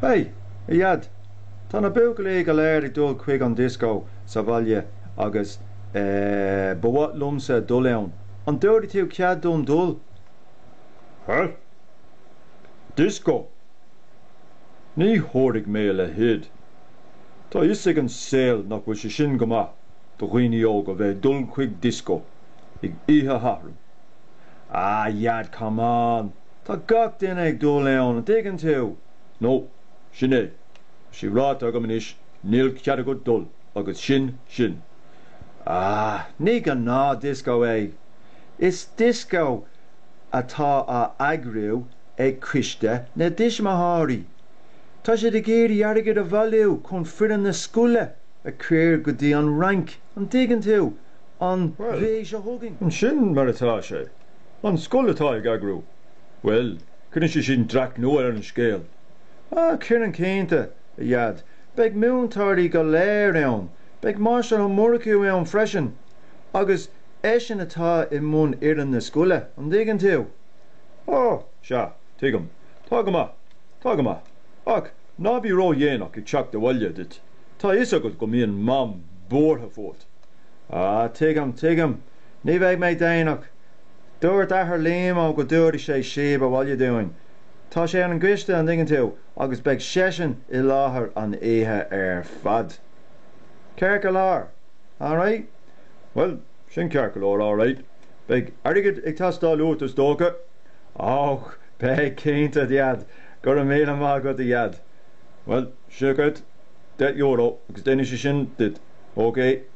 Hei! a Dhaid! Tá na buachaillí go léir ag dul chuig an dioscó sa bhaile agus, eh, ba mhaith liomsa dul ann. An dtabharfaidh tú cead dom dul? Hei! Dioscó! Ní thabharfaidh mé a leithéid. Tá a fhios ag an saol nach bhfuil sé sin go maith do dhaoine óga bheith ag dul chuig dioscó oíche Shathairn. A Dhaid, come on! Tá gach duine ag dul ann, an dtuigeann tú? Nó, sin é. Tá sí ráite agam anois, níl cead agat dul, agus sin sin. Ah, ní gnáth dioscó é. Is dioscó atá á eagrú ag Coiste na dTuismitheoirí. Tá siad ag iarraidh airgead a bhailiú chun foireann na scoile a chur go dtí an Fhrainc, an dtuigeann tú, an mhí seo chugainn. Á, sin mar atá sé. An scoil atá á eagrú? Bhuel, cuireann sé sin dreach nua ar an scéal. Á, cuireann cinnte, a Dhaid. Beidh na múinteoirí go léir ann. Beidh an Máistir Ó Murchú ann freisin, agus eisean atá i mbun fhoireann na scoile, an dtuigeann tú? Ó, sea, tuigim. Tá go maith. Tá go maith. Ach ná bí ró-dhéanach ag teacht abhaile duit, tá 'fhios agat go mbíonn Mam buartha fút. Á, tuigim, tuigim. Ní bheidh mé déanach. Dúirt athair Liam Ó go dtabharfaidh sé síob abhaile dúinn. Tá sé ar an gcoiste, an dtuigeann tú, agus beidh seisean i láthair an oíche ar fad. Ceart go leor, alright. Bhuel, sin ceart go leor, alright. Beidh airgead ag teastáil uait is dócha? Och, beidh cinnte, a Dheaid. Go raibh míle maith agat, a Dheaid. Bhuel, seo dhuit, deich euro, agus déanfaidh sé sin duit, ok?